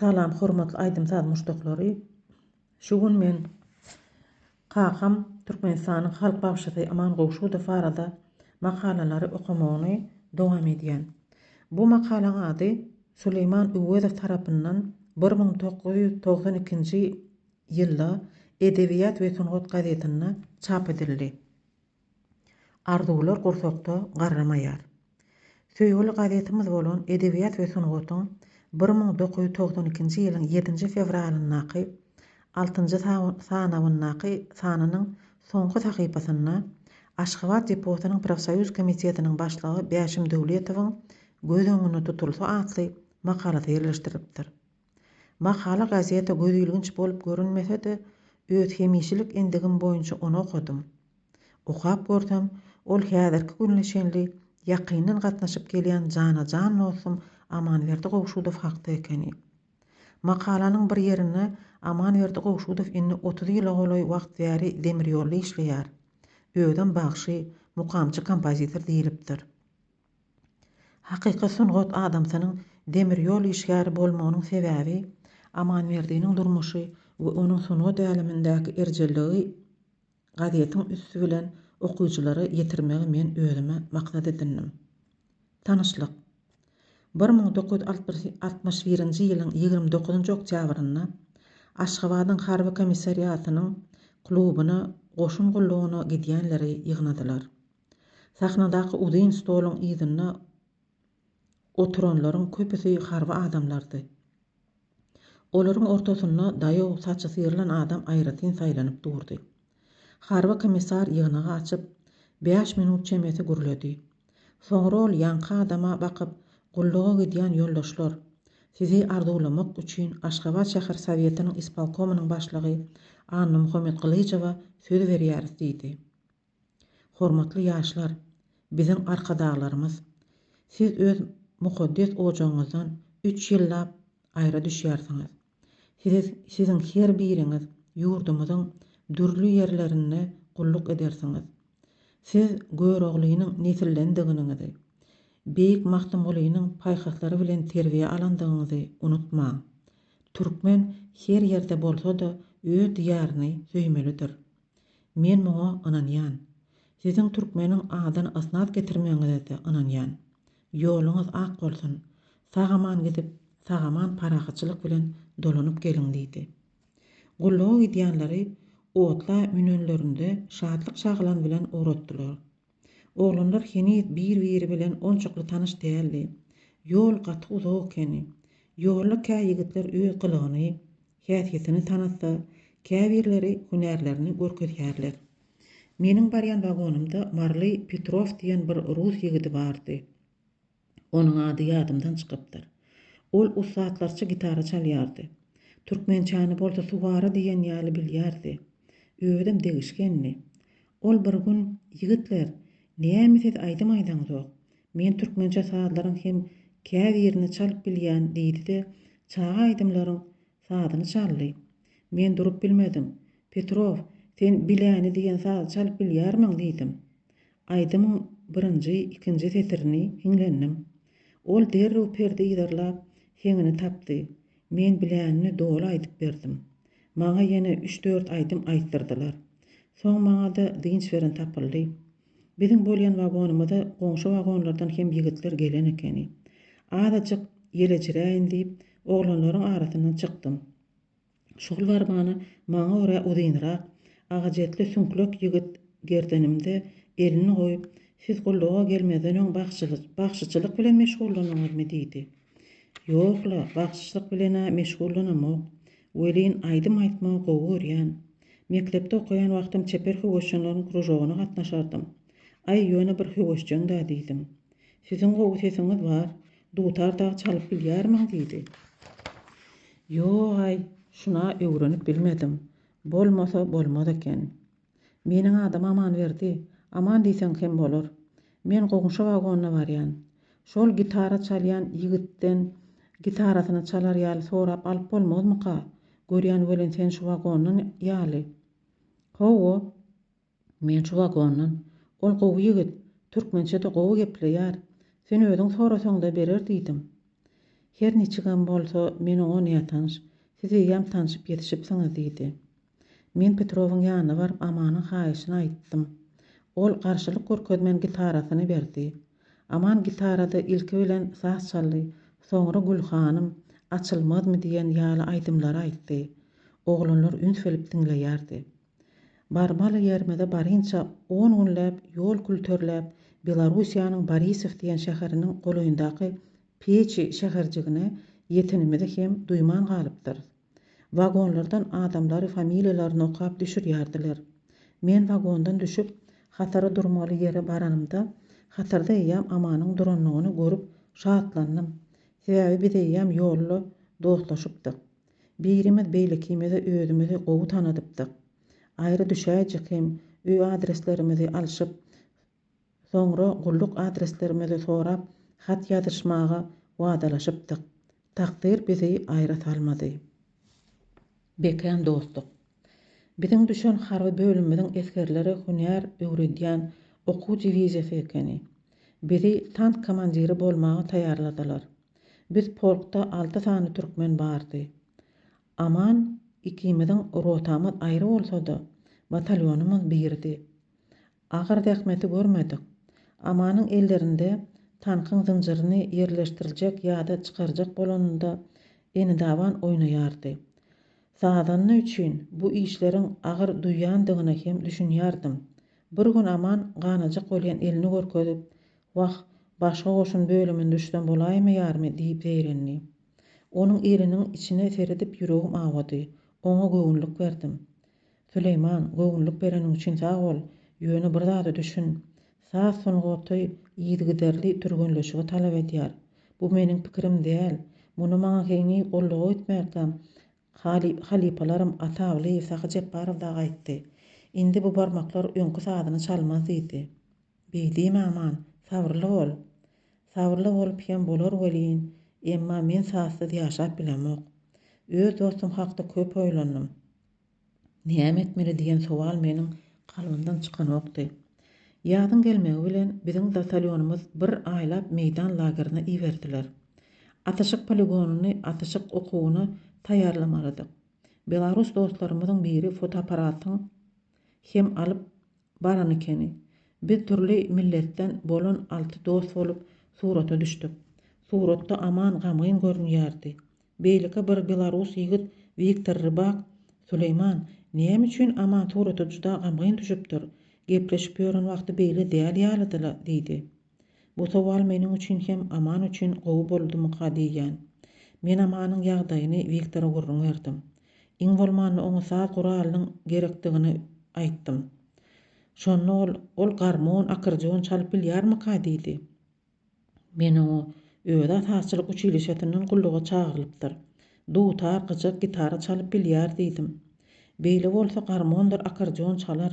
Salam hormatly aýdym saz muşdaklary şu gün men kakam Türkmenistanyň halk bagşysy Aman Gowşudow barada makalalary okamagyny dowam edýän. Bu makalaň ady Suleýman Öwezow tarapyndan bir müň dokuz ýüz togsan ikinji ýylda Edebiýat we sungat gazetinde çap edildi. Arzuwlar gursakda garramaýar. Söýgüli gazetimiz bolan Edebiýat we sungatyň bir müň dokuz ýüz togsan ikinji ýylyň ýedinji fewralyndaky altynjy sanawyndaky sanynyň soňky sahypasynda Aşgabat deposynyň profsoýuz komitetiniň başlygy Bäşim Döwletowyň Göz öňünde tutulsa atly makalasy ýerleşdirilipdir. Makala gazete gözilginç bolup görünmese-de, öz hemişelik endigim boýunça ony okadym. Okap görsem, ol häzirki gününe çenli ýakyndan gatnaşyp gelýän jana-jan dostum Amanberdi Gowşudow hakda ekeni. Makalanyň bir ýerinde Amanberdi Gowşudow indi otuz ýyla golaý wagt bäri demirýolda işleýär. Özem bagşy, mukamçy-kompozitor diýlipdir. Hakyky sungat adamsynyň demir ýol işgäri bolmagynyň sebäbi Amanberdiniň durmuşy we onuň sungat älemindäki erjelligi gazetiň üsti bilen okyjylara ýetirmegi men özüme maksat edindim. Tanyşlyk. Bir müň dokuz ýüz altmyş birinji ýylyň ýigrimi dokuzynjy oktýabrynda Aşgabadyň harby komissariatynyň klubuna goşun gullugyna gidýänleri ýygnadylar. Sahnadaky uzyn stoluň yzynda oturanlaryň köpüsi harby adamlardy. Olaryň ortasynda daýaw saçy syrylan adam aýratyn saýlanyp durdy. Harby komissar ýygnagy açyp, bäş minut çemesi gürledi. Soňra ol ýaňky adama bakyp, Gulluga gidýän ýoldaşlar, sizi arzuwlamak üçin Aşgabat şäher Sowetiniň ispolkomynyň başlygy Annamuhammet Gylyjowa söz berýäris diýdi. Hormatly ýaşlar, biziň Arkadaglarymyz, siz öz mukaddes ojagyňyzdan üç ýyllap aýra düşýärsiňiz. Sizi siziň her biriňiz ýurdumyzyň dürli ýerlerinde gulluk edersiňiz. Siz Göroglynyň nesildendiginiňizi, beýik Magtymgulynyň paýhaslary bilen terbiýe alandygyňyzy unutmaň. Türkmen her ýerde bolsa-da öz diýaryny söýmelidir. Men muňa ynanýan. Siziň türkmeniň adyny ysnat getirmegiňize-de ynanýan. Ýoluňyz ak bolsun. Sag-aman gidip, sag-aman parahatçylyk bilen dolanyp geliň diýdi. Gulluga gidýänleri otla münenlerinde şatlyk-şagylan bilen ugratdylar. Oglanlar heniz bir-biri bilen onçakly tanyş däldi. Ýol gaty uzak ekeni. Ýolda kä ýigitler öz gylygyny, häsiýetini tanatsa, käbirleri hünärlerini görkezýärler. Meniň barýan wagonymda Marly Petrow diýen bir rus ýigidi bardy. Onuň ady ýadymdan çykypdyr. Ol ussatlarça gitara çalýardy. Türkmençäni bolsa suwara diýen ýaly bilýärdi. Özem degişgendi. Ol bir gün, Ýigitler, näme siz aýdym aýdaňzok? Men türkmençe sazlaryň hem käbirini çalyp bilýän diýdi-de, çaga aýdymlaryň sazyny çaldy. Men durup bilmedim. Petrow, sen Biläni diýen sazy çalyp bilýärmiň? diýdim. Aýdymyň birinji, ikinji setirini hiňlendim. Ol derrew perde yzarlap, heňini tapdy. Men bilänini doly aýdyp berdim. Maňa ýene üç-dört aýdym aýtdyrdylar. Soň maňa-da dynç beren tapyldy. Biziň bolýan wagonymyza goňşy wagonlardan hem ýigitler gelen ekeni. Azajyk ýelejiräýin diýip, oglanlaryň arasyndan çykdym. Şugul barmany maňa görä uzynrak, agajetli süňklek ýigit gerdenimde elini goýup, Siz gulluga gelmezden öň bagşyçylyk bilen meşgullandyňyzmy? diýdi. Ýok-la, bagşyçylyk bilen-ä meşgullanamok. Welin, aýdym aýtmagy gowy görýän. Mekdepde okaýan wagtym çeper höwesjeňleriň kružogyna gatnaşardym. Aý, ýöne bir höwesjeň-dä diýdim. Siziň gowy sesiňiz bar. Dutar dagy çalyp bilýärmiň? diýdi. Ýog-aý, şun-a öwrenip bilmedim. Bolmasa, bolmaz eken. Meniň adym Amanberdi. Aman diýseň hem bolar. Men goňşy wagona barýan. Şol gitara çalýan ýigitden gitarasyny çalar ýaly sorap alyp bolmazmyka? Görýän welin sen şu wagondan ýaly. Hawa, Men şu wagondan, Ol gowy ýigit, türkmençe-de gowy gepleýär. Sen özüň sorasaň-da berer diýdim. Her niçigem bolsa, men oňa nätanyş, siz eýýäm tanşyp ýetişipsiňiz diýdi. Men Petrowyň ýanyna baryp Amanyň haýyşyny aýtdym. Ol garşylyk görkezmän gitarasyny berdi. Aman gitarada ilki bilen Saz çaldy, soňra Gülhanym, Açylmazmy diýen ýaly aýdymlary aýtdy. Oglanlar üns berip diňleýärdi. Barmaly ýerimize barynça on günläp ýol külterläp Belarusiýanyň Borisow diýen şäheriniň golaýyndaky Peçi şäherjigine ýetenimizi hem duýman galypdyrys. Wagonlardan adamlary familiýalaryny okap düşürýärdiler. Men wagondan düşüp hatara durmaly ýere baranymda hatarda eýýäm Amanyň durandygyny görüp şatlandym. Sebäbi biz eýýäm ýolda dostlaşypdyk. Birimiz beýlekimize özümizi gowy tanadypdyk. Aýry düşäýjek hem öý adreslerimizi alşyp, soňra gulluk adreslerimizi sorap hat ýazyşmaga wadalaşypdyk. Takdyr bizi aýra salmady. Bekän dostluk. Biziň düşen harby bölümimiziň esgerleri hünär öwredýän okuw diwiziýasy ekeni. Bizi tank komandiri bolmaga taýýarladylar. Biz polkda alty sany türkmen bardy. Aman ikimiziň rotamyz aýry bolsa-da, batalýonymyz birdi. Agyr zähmeti görmedik. Amanyň ellerinde tankyň zynjyryny ýerleşdirjek ýa-da çykarjak bolanynda eni-daban oýnaýardy. Sazanda üçin bu işleriň agyr duýýandygyna hem düşünýärdim. Bir gün Aman ganajak bolýan elini görkezip, Wah, başga goşun bölümine düşsem bolaýmaýarmy diýip zeýrendi. Onuň eliniň içine seredip ýüregim awady. Oňa göwünlik berdim. Süleýman, göwünlik bereniň üçin sag bol. Ýöne bir zada düşün. Saz sungaty yzygiderli türgenleşigi talap edýär. Bu meniň pikirim däl. Muny maňa heniz goldaw etmärkäm halypalarym Atawlyýew, Sahy Jepbarow dagy aýtdy. Indi bu barmaklar öňki sazyny çalmaz diýdi. Beýdi, Maman, sabyrly bol. Sabyrly bolup hem bolar welin, emma men sazsyz ýaşap bilemok. Öz dostum hakda köp oýlandym. Näme etmeli diýen sowal meniň kalbymdan çykanokdy. Ýazyň gelmegi bilen biziň batalýonymyz bir aýlap meýdan lagerine iberdiler. Atyşyk poligonyny atyşyk okuwyna taýýarlamalydyk. Belarus dostlarymyzyň biri fotoapparatyň hem alyp, Baran ekeni. Biz dürli milletden bolan alty dost bolup surata düşdük. Suratda Aman gamgyn görünýärdi. Beýleki bir belarus ýigit Wiktor Rybak, Süleýman, näme üçin Aman surata juda gamgyn düşüpdir? Gepleşip ýören wagty beýle däl ýalydy-la, diýdi. Bu sowal meniň üçin hem Aman üçin gowy boldumyka diýýän. Men Amanyň ýagdaýyny Wiktora gürrüň berdim. Iň bolmanda oňa saz guralynyň gerekdigini aýtdym. Şonda ol, Ol garmon, akordeon çalyp bilýärmika diýdi. Men oňa, Öz-ä sazçylyk uçilişesinden gulluga çagyrylypdyr. Dutar, gyjak, gitara çalyp bilýär diýdim. Beýle bolsa garmondyr akordeon çalar.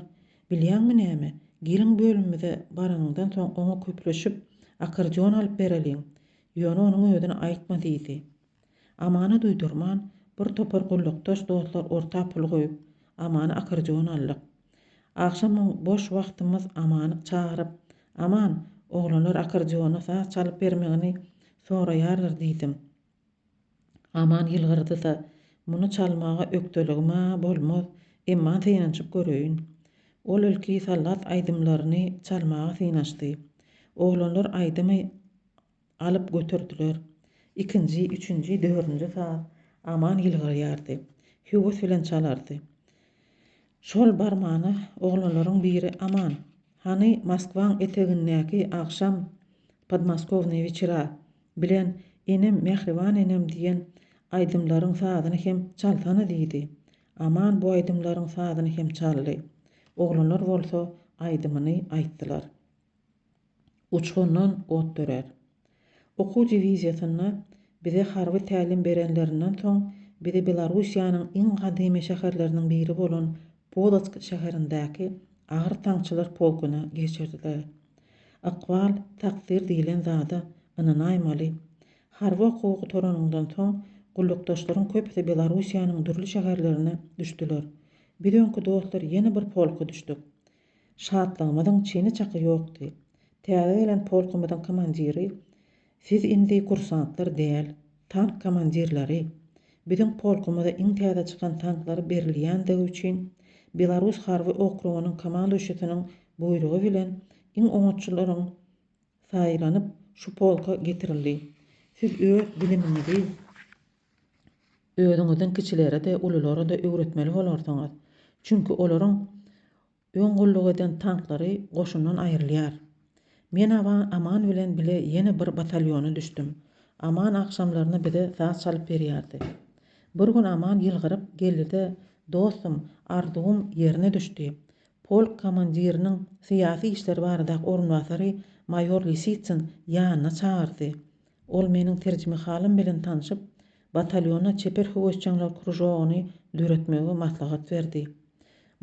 Bilýäňmi näme, gelin bölümimize baranyňdan soň oňa köpleşip, akordeon alyp bereliň. Ýöne onuň özüne aýtma diýdi. Amana duýdurman, bir topar gullukdaş dostlar orta pul goýup, Amana akordeon aldyk. Agşamam boş wagtymyz Amany çagyryp, Aman, oglanlar akordeona saz çalyp bermegiňi soraýarlar diýdim. Aman ýylgyrdy-da, Muny çalmaga ökdeligim-ä bolmaz, emma synanyşyp göreýin. Ol ilki Sallat aýdymlaryny çalmaga synanyşdy. Oglanlar aýdymy alyp göterdiler. Ikinji, üçünji, dördünji saz Aman ýylgyrýardy. Höwes bilen çalardy. Şol barmana oglanlaryň biri Aman, hany Moskwaň etegindäki agşam Podmoskownyý wechera Bilen, Enem, mähriban enem diýen aýdymlaryň sazyny hem çalsana diýdi. Aman bu aýdymlaryň sazyny hem çaldy. Oglanlar bolsa aýdymyny aýtdylar. Uçgundan ot dörär. Okuw diwiziýasynda bize harby tälim berenlerinden soň bizi Belarussiýanyň iň gadymy şäherleriniň biri bolan Polotsk şäherindäki agyr tankçylar polkuna geçirdiler. Ykbal, takdyr diýlen zada ynanaýmaly. Harby okuwa gutaranyňdan soň, gullukdaşlaryň köpüsi Belarussiýanyň dürli şäherlerine düşdüler. Biz öňki dostlar ýene bir polka düşdük. Şatlygymyzyň çyny-çaky ýokdy. Täze gelen polkumyzyň komandiri Siz indi kursantlar däl, tank komandirleri. Biziň polkumyza iň täze çykan tanklar berilýändigi üçin, Belarus harby okrugynyň komanduşisiniň buýrugy bilen iň oňatçylaryň saýlanyp, şu polka getirildi. Siz öz bilimiňizi özüňizden kiçilere-de, ululara-da öwretmeli bolarsyňyz. Çünki olaryň Öň gulluk eden tanklary goşundan aýrylýar. Men Aman bilen bile ýene bir batalýona düşdüm. Aman agşamlaryna bize saz çalyp berýärdi. Bir gün Aman ýylgyryp geldi-de, Dostum, arzuwym ýerine düşdi. Polk komandiriniň syýasy işler baradaky orunbasary maýor Lisitsin ýanyna çagyrdy. Ol meniň terjimehalim bilen tanşyp, batalýona çeper höwesjeňler kružogyny döretmegi maslahat berdi.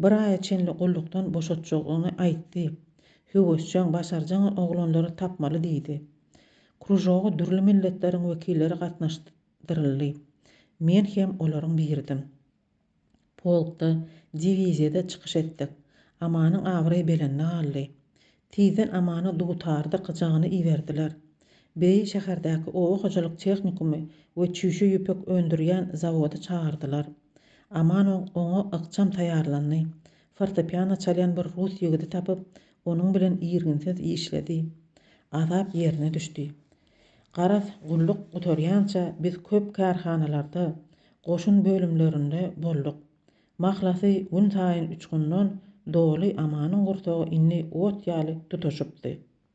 Bir aýa çenli gullukdan boşatjagyny aýtdy. Höwesjeň, başarjaň oglanlary tapmaly diýdi. Kružoga dürli milletleriň wekilleri gatnaşdyryldy. Men hem olaryň biridim. Polkda, diwiziýada çykyş etdik. Amanyň abraýy belende galdy. Tizden Amana dutarda gyjagyny iberdiler. Beýi şäherdäki oba hojalyk tehnikumy we çüýşe ýüpek öndürýän zawody çagyrdylar. Aman oňa ykjam taýýarlandy. Fortepiano çalýan bir rus ýigidi tapyp, onuň bilen irginsiz işledi. Azap ýerine düşdi. Garaz, gulluk gutarýança biz köp kärhanalarda, goşun bölümlerinde bolduk. Mahlasy, günsaýyn uçgundan doly Amanyň gursagy indi ot ýaly tutaşypdy.